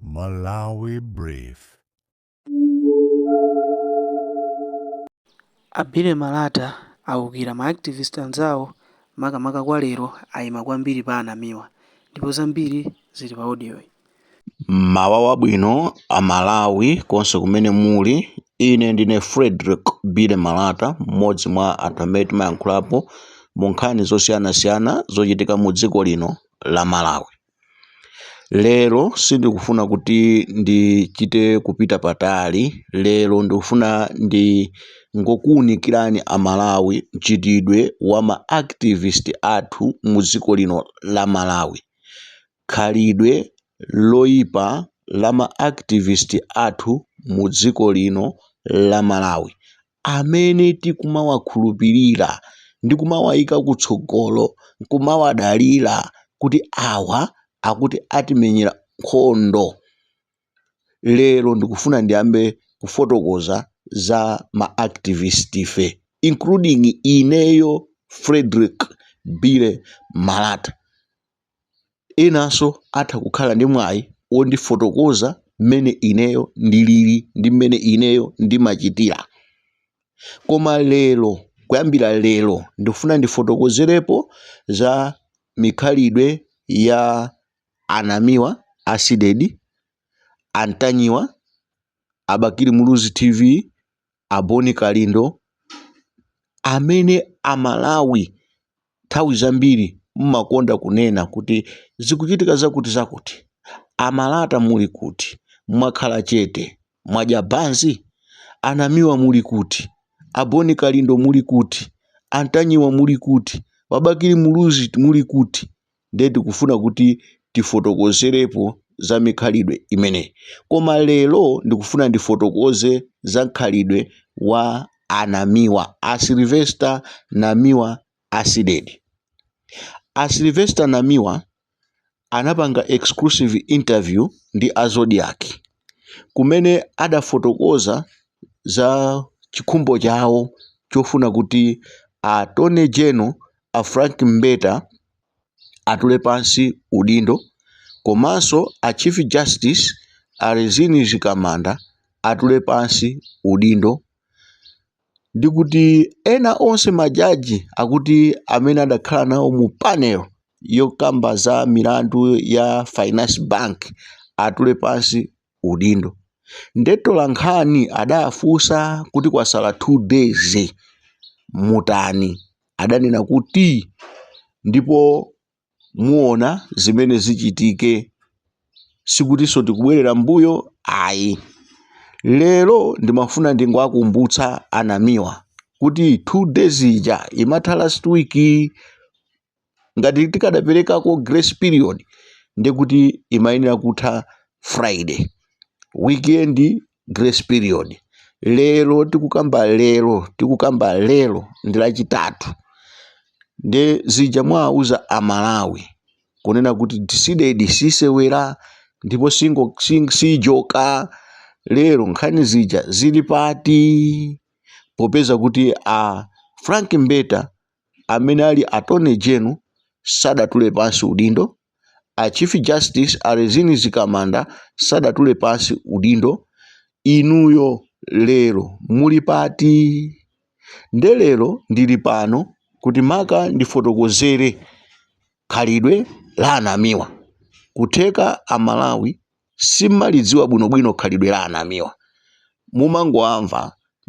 Malawi Brief. A Billy Malata aukira ma activist anzawo makamaka kwa lero aima kwambiri pa a Namiwa ndipo zambiri zili pa audio yi. Mmawa wabwino a Malawi konse kumene muli, ine ndine Fredrick Billy Malata mmodzi mwa anthu amene timayankhulapo mu nkhani zosiyanasiyana zochitika mu dziko lino la Malawi. Lero sindikufuna kuti ndichite kupita patali, lero ndikufuna ndingokuwunikirani Amalawi mchitidwe wa ma activist athu mu dziko lino la Malawi. Khalidwe loyipa la ma activist athu mu dziko lino la Malawi. amene tikumawakhulupirira ndi kumawayika kutsogolo, kumawadalira kuti awa akuti atimenyera nkhondo. Lero ndikufuna ndiyambe kufotokoza za ma activist'fe including ineyo Fredrick Billy Malata. inanso atha kukhala ndi mwayi wondifotokoza mmene ineyo ndilili ndi mmene ineyo ndimachitira. Koma lero, kuyambira lero ndikufuna ndifotokozerepo za mikhalidwe ya a Namiwa, a Cdedi, a Ntanyiwa, a Bakili Muluzi TV, a Boni Kalindo amene Amalawi nthawi zambiri mmakonda kunena kuti zikuchitika zakuti zakuti. Amalata muli kuti? Mwakhala chete, mwadya banzi? Anamiwa muli kuti? A Boni Kalindo muli kuti? Antanyiwa muli kuti? Wabakili Muluzi muli kuti? ndiye tikufuna kuti tifotokozerepo za mikhalidwe imeneyi. Koma lero ndikufuna ndifotokoze za mkhalidwe wa anamiwa, a Sylvester Namiwa Asidedi. A Sylvester Namiwa anapanga exclusive interview ndi a Zodiac kumene adafotokoza za chikhumbo chawo chofuna kuti a Attorney General a Frank Mbeta atule pansi udindo komanso a Chief Justice a Rizine Mzikamanda atule pansi udindo ndi kuti ena onse majaji akuti amene adakhala nawo mu panel yokamba za milandu ya Finance Bank atule pansi udindo nde atolankhani adafunsa kuti kwasala 2 days mutani adanena kuti ndipo muona zimene zichitike sikutinso tikubwerera mbuyo ayi lero ndimafuna ndingowakumbutsa a Namiwa kuti 2 days ija imatha last week ngati tikadaperekako grace period ndekuti imayenera kutha friday weekend grace period lero tikukamba lero tikukamba lero ndi lachitatu nde zija mwawauza Amalawi kunena kuti CDEDI sisewera ndipo singo sing- sijoka lero nkhani zija zili pati popeza kuti a Frank Mbeta amene ali attorney general sadatule pansi udindo, a chief justice a Rizine Mzikamanda sadatule pansi udindo, inuyo lero muli pati? Nde lero ndili pano kuti maka ndifotokozere khalidwe la a Namiwa. Kutheka a Malawi simalidziwa bwinobwino khalidwe la a Namiwa mumangowamva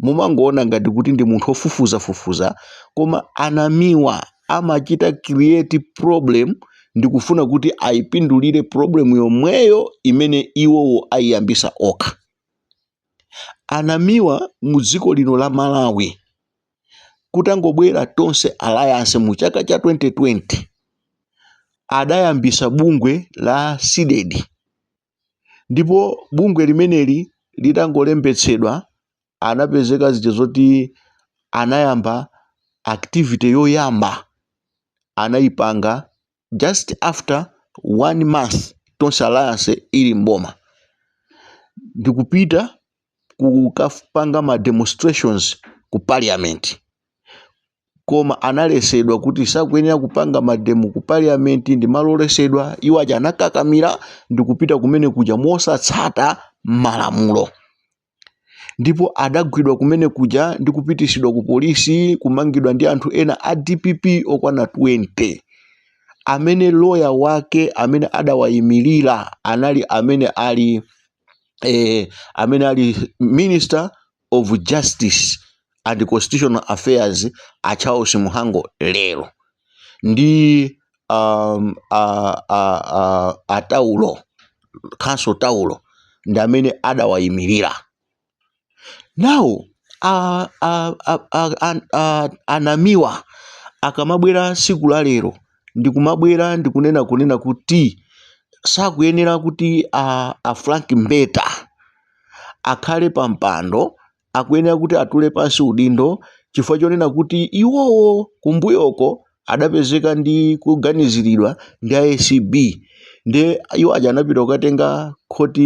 mumangoona ngati kuti ndi munthu ofufuzafufuza koma a Namiwa amachita create problem ndikufuna kuti ayipindulire problem yomweyo imene iwowo ayiyambisa okha a Namiwa mu dziko lino la Malawi kutangobwera Tonse Alliance mu chaka cha 2020 adayambisa bungwe la CDEDI ndipo bungwe limeneli litangolembetsedwa anapezeka zija zoti anayamba activity yoyamba anayipanga just after one month Tonse Alliance ili mboma ndikupita kukapanga ma demonstrations ku parliament koma analesedwa kuti sakuyenera kupanga mademo ku parliament ndi malo olesedwa iwo aja anakakamira ndikupita kumene kuja mosatsata malamulo ndipo adagwidwa kumene kuja ndi kupitisidwa ku polisi kumangidwa ndi anthu ena a DPP okwana 20 amene loya wake amene adawayimirira anali amene ali eh, amene ali minister of justice and Constitutional Affairs a Charles Muhango lero ndi um, a, a, a, a Taulo Council Taulo ndi amene adawayimirira now a, a, a, a, a, a, a Namiwa akamabwera siku la lero ndikumabwera ndikunena kunena kuti sakuyenera kuti a, a Frank Mbeta akhale pa mpando akuyenera kuti atule pansi udindo chifukwa chonena kuti iwowo kumbuyoko adapezeka ndi kuganiziridwa ndi a acb nde iwo aja anapita kukatenga court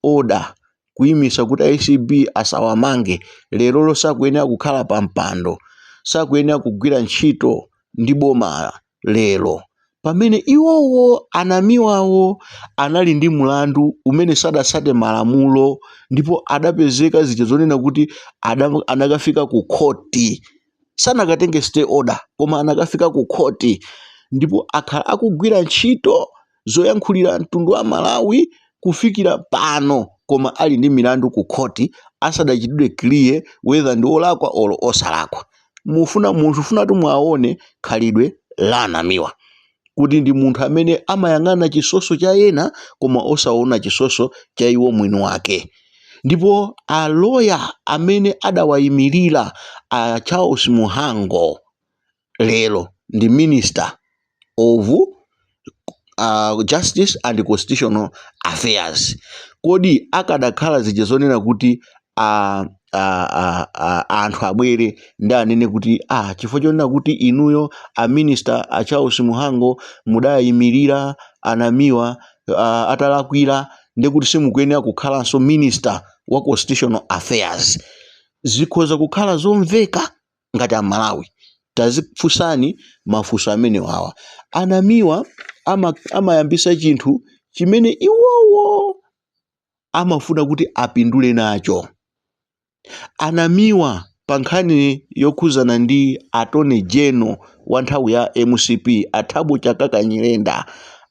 order kuyimisa kuti acb asawamange lerolo sakuyenera kukhala pa mpando sakuyenera kugwira ntchito ndi bomala lero, pamene iwowo a Namiwawo anali ndi mlandu umene sadatsate malamulo ndipo adapezeka zija zonena kuti ada anakafika ku khoti sanakatenge stay order koma anakafika ku khoti ndipo akhala akugwira ntchito zoyankhulira mtundu wa Malawi kufikira pano koma ali ndi milandu ku khoti asadachitidwe clear whether ndi olakwa or osalakwa. Mufuna munthu funatu muone khalidwe la a Namiwa kuti ndi munthu amene amayang'ana chisoso cha ena koma osaona chisoso cha iwo mwini wake. Ndipo a lawyer amene adawayimilira a Charles Muhango lero ndi Minister of Justice and Constitutional Affairs. Kodi akadakhala zija zonena kuti anthu abwere ndi anene kuti ah, chifukwa chonena kuti inuyo a Minister a Charles Muhango mudawayimirira a Namiwa uh, atalakwira ndi kuti simukuyenera kukhalanso Minister wa Constitutional Affairs zikhoza kukhala zomveka ngati amalawi tazifunsani mafunso amenewawa a Namiwa ama, amayambisa chinthu chimene iwowo amafuna kuti apindule nacho a Namiwa pa nkhani yokhuzana ndi attorney general wa nthawi ya mcp a thabo chakaka nyirenda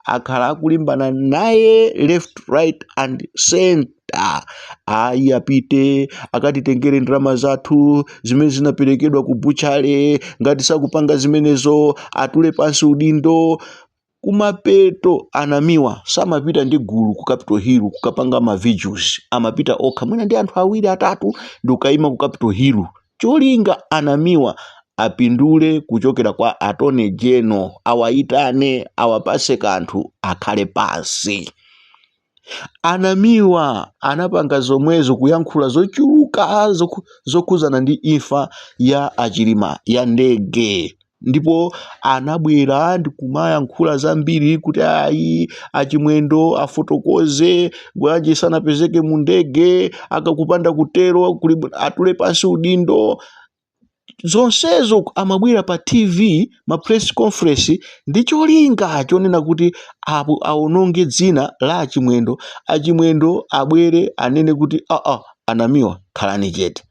akhala akulimbana naye left right and center da ayi apite akatitengere ndalama zathu zimene zinaperekedwa ku butchery ngati sakupanga zimenezo atule pansi udindo kumapeto a Namiwa samapita ndi gulu ku capital hill kukapanga ma vigils amapita okha mwina ndi anthu awiri atatu ndi kukayima ku capital hill cholinga a Namiwa apindule kuchokera kwa attorney general awayitane awapase kanthu akhale pansi Anamiwa anapanga zomwezo kuyankhula zochuluka zoku, zokhuzana ndi imfa ya achilima ya ndege ndipo anabwera ndikumayankhula zambiri kuti ayi achimwendo afotokoze bwanji sanapezeke mu ndege akakupanda kutero kuli atule pansi udindo zonsezo amabwera pa TV ma press conference ndi cholinga chonena kuti apo aononge dzina la achimwendo achimwendo abwere anene kuti aa anamiwa khalani chete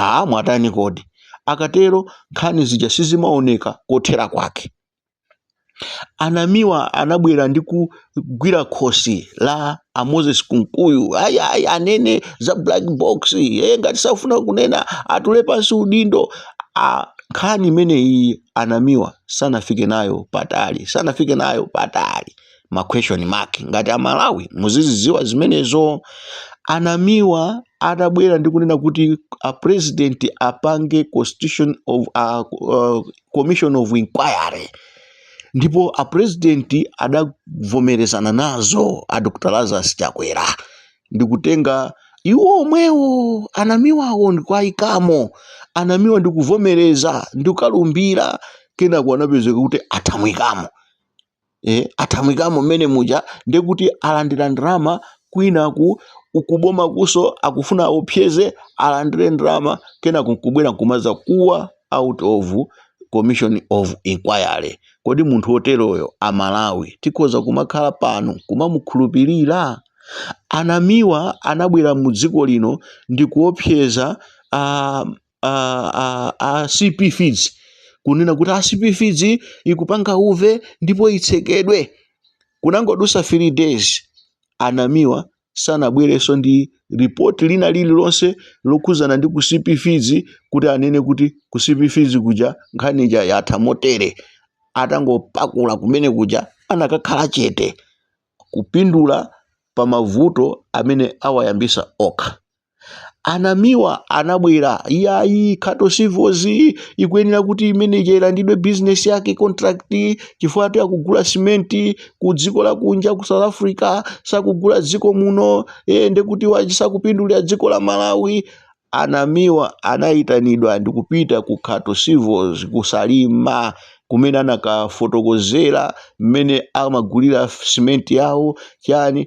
aa mwatani kodi akatero nkhani zija sizimaoneka kothera kwake anamiwa anabwera ndi kugwira khosi la a moses kunkuyu ayi ayi anene za black box eee ngati safuna kunena atule pansi udindo a nkhani imeneyi anamiwa sanafike nayo patali sanafike nayo patali ma question mark ngati amalawi muziziziwa zimenezo anamiwa atabwera ndi kunena kuti a president apange constitution of a, uh, commission of inquiry ndipo a president adavomerezana nazo a dr lazarus chakwera ndikutenga iwo omwewo anamiwawo ndikuayikamo anamiwa ndikuvomereza ndikukalumbira kenako anapezeka kuti athawikamo e, athawikamo mmene muja ndiye kuti alandira ndalama kwinaku ukuboma kuso akufuna aopseze alandire ndalama kenako nkubwera nkumadzakuwa out of commission of inquiry kodi munthu woteroyo amalawi tikhoza kumakhala pano kumamukhulupirira anamiwa anabwera mu dziko lino ndi kuopseza uh, a, a, a cp feeds kunena kuti a cp feeds ikupanga uve ndipo itsekedwe kunangodusa 3 days anamiwa sanabwerenso ndi report lina lililonse lokhuzana ndi ku cp feeds kuti anene kuti ku cp feeds kuja nkhani ija yatha motere atangopakula kumene kuja anakakhala chete kupindula pa mavuto amene awayambisa okha anamiwa anabwera iyayi khato civils ikuyenera kuti imene ija ilandidwe bizinesi yake contract chifukwa ati akugula simenti ku dziko lakunja ku south africa sakugula dziko muno e, ndekuti sakupindulira dziko la malawi anamiwa anayitanidwa ndikupita ku khato civils kusalima kumene anakafotokozera mmene amagulira simenti yawo chani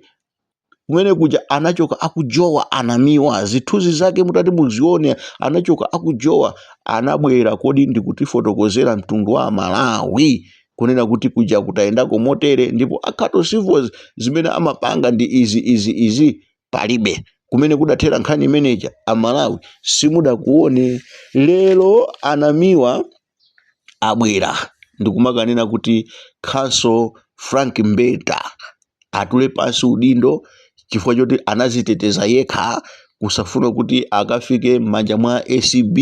kumene kuja anachoka akujowa anamiwa zithunzi zake mutati muzione anachoka akujowa anabwera kodi ndikutifotokozera mtundu wa malawi kunena kuti kuja kutayendako motere ndipo a Khato Civils zimene amapanga ndi izi izi izi palibe kumene kudathera nkhani imeneja amalawi simudakuone lero anamiwa abwera ndikumakanena kuti Counsel Frank Mbeta atule pansi udindo chifukwa choti anaziteteza yekha kusafuna kuti akafike m'manja mwa ACB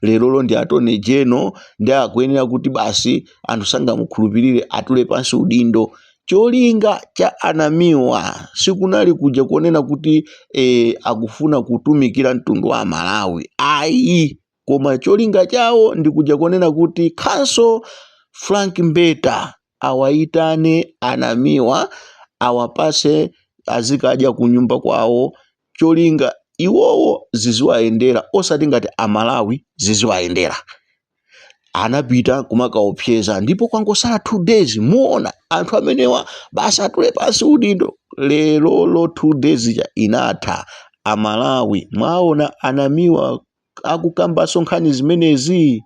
lerolo ndi Attorney General ndi akuyenera kuti basi anthu sangamukhulupirire atule pansi udindo cholinga cha anamiwa sikunali kuja kuonena kuti e, akufuna kutumikira mtundu wa Malawi ayi koma cholinga chawo ndi kuja konena kuti Counsel Frank Mbeta awayitane anamiwa awapase azikadya kunyumba kwawo cholinga iwowo ziziwayendera osati ngati amalawi ziziwayendera anapita kumakaopseza ndipo kwangosala 2 days muona anthu amenewa basi atule pansi udindo lerolo 2 days ja inatha amalawi mwaona anamiwa akukambaso nkhani zimenezi?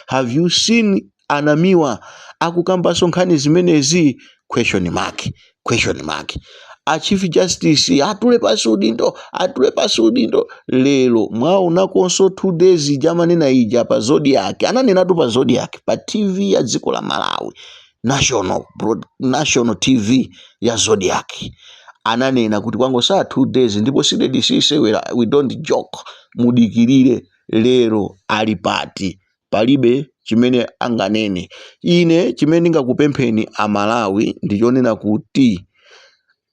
Have you seen Anamiwa akukambaso nkhani zimenezi? Question mark, question mark. A Chief Justice atule pasi udindo, atule pasi udindo. Lero mwaonakonso two days ija amanena ija pa Zodiak, ananenatu pa Zodiak pa TV ya dziko la Malawi national, Broad- national tv ya Zodiak ananena kuti kwangosala 2 days ndipo CDEDI sisewera we don't joke mudikirire lero ali pati palibe chimene anganene ine chimene ndingakupempheni amalawi ndichonena kuti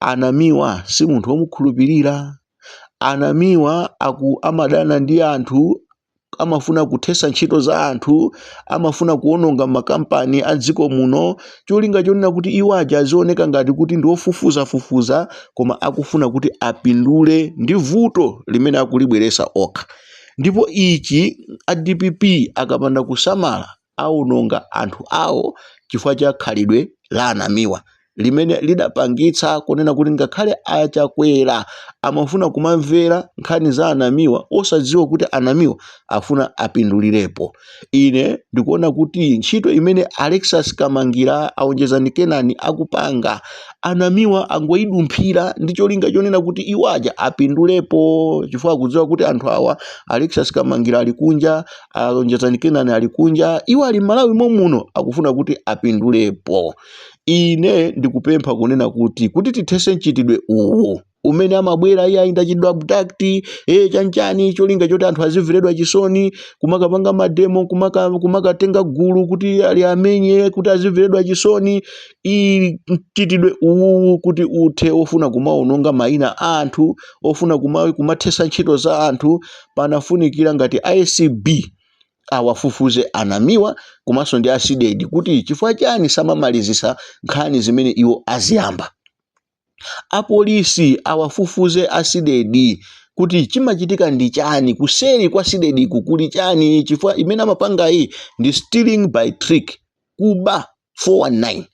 anamiwa si munthu womukhulupirira anamiwa aku amadana ndi anthu amafuna kuthetsa ntchito za anthu amafuna kuononga makampani a dziko muno cholinga chonena kuti iwo aja azioneka ngati kuti ndi ofufuzafufuza koma akufuna kuti apindule ndi vuto limene akulibweresa okha ndipo ichi a dpp akapanda kusamala aononga anthu awo chifukwa cha khalidwe la Anamiwa limene lidapangitsa kunena kuti ngakhale a Chakwera amafuna kumamvera nkhani za Anamiwa osadziwa kuti Anamiwa afuna apindulirepo. Ine ndikuona kuti ntchito imene Alexious Kamangila a Onjezani Kenani akupanga Anamiwa angoidumphira ndi cholinga chonena kuti iwo aja apindulepo chifukwa akudziwa kuti anthu awa Alexious Kamangila ali kunja, alonjezani kenani ali kunja iwo ali m'malawi momuno akufuna kuti apindulepo ine ndikupempha kunena kuti kuti tithese mchitidwe uwu umene amabwera iye ayi ndachitidwa abduct e chanchani cholinga choti anthu azimveredwa chisoni kumakapanga mademo kumaka- kumakatenga gulu kuti ali amenye kuti azimveredwa chisoni ili mchitidwe uwu kuti uthe ofuna kumaononga mayina a anthu ofuna kuma- kumathesa ntchito za anthu panafunikira ngati acb awafufuze a Namiwa komanso ndi a Cdedi kuti chifukwa chani samamalizisa nkhani zimene iwo aziyamba. Apolisi awafufuze a Cdedi kuti chimachitika ndi chani, kuseri kwa Cdedi ku kuli chani chifukwa imene amapangayi ndi stealing by trick, kuba. 419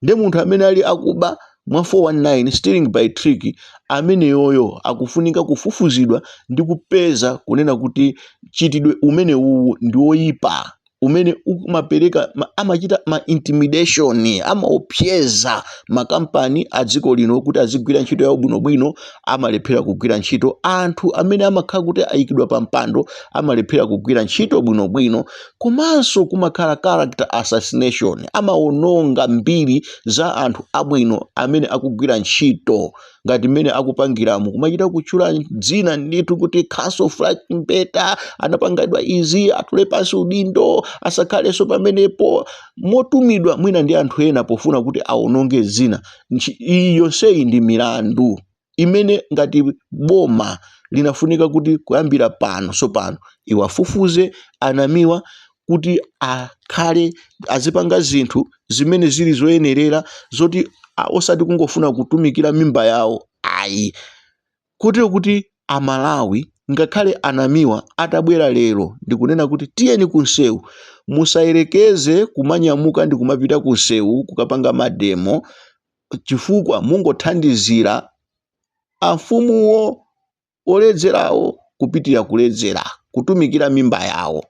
nde munthu amene ali akuba mwa 419 stealing by trick ameneyoyo akufunika kufufuzidwa ndi kupeza kunena kuti mchitidwe umene uwu ndi woyipa umene umapereka ma- amachita ma intimidation amaopseza makampani a dziko lino kuti azigwira ntchito yawo bwinobwino amalephera kugwira ntchito anthu amene amakhala kuti ayikidwa pa mpando amalephera kugwira ntchito bwinobwino komanso kumakhala character assassination, amawononga mbiri za anthu abwino amene akugwira ntchito ngati mmene akupangiramu, kumachita kutchula dzina ndithu kuti Counsel Frank Mbeta anapangidwa izi, atule pansi udindo, asakhalenso pamenepo, motumidwa mwina ndi anthu ena pofuna kuti awononge dzina. Ntchi- Iyi yonseyi ndi milandu. imene ngati boma linafunika kuti kuyambira pano tsopano iwafufuze a Namiwa kuti akhale azipanga zinthu zimene zili zoyenerera zoti a- osati kungofuna kutumikira mimba yawo ayi kotero kuti amalawi ngakhale a Namiwa atabwera lero ndikunena kuti tiyeni kunsewu musayerekeze kumanyamuka ndi kumapita kunsewu kukapanga mademo chifukwa mungothandizira amfumuwo oledzerawo kupitirira kuledzera kutumikira mimba yawo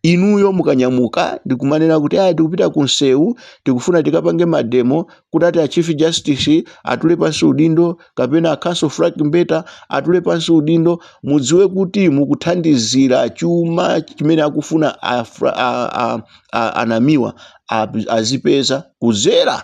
inuyo mukanyamuka ndikumanena kuti aya tikupita kunsewu tikufuna tikapange mademo kuti ati a chief justice atule pansi udindo kapena a counsel frank mbeta atule pansi udindo mudziwe kuti mukuthandizira chuma chimene akufuna a, Fra- a, a, a, a Namiwa a- azipeza kudzera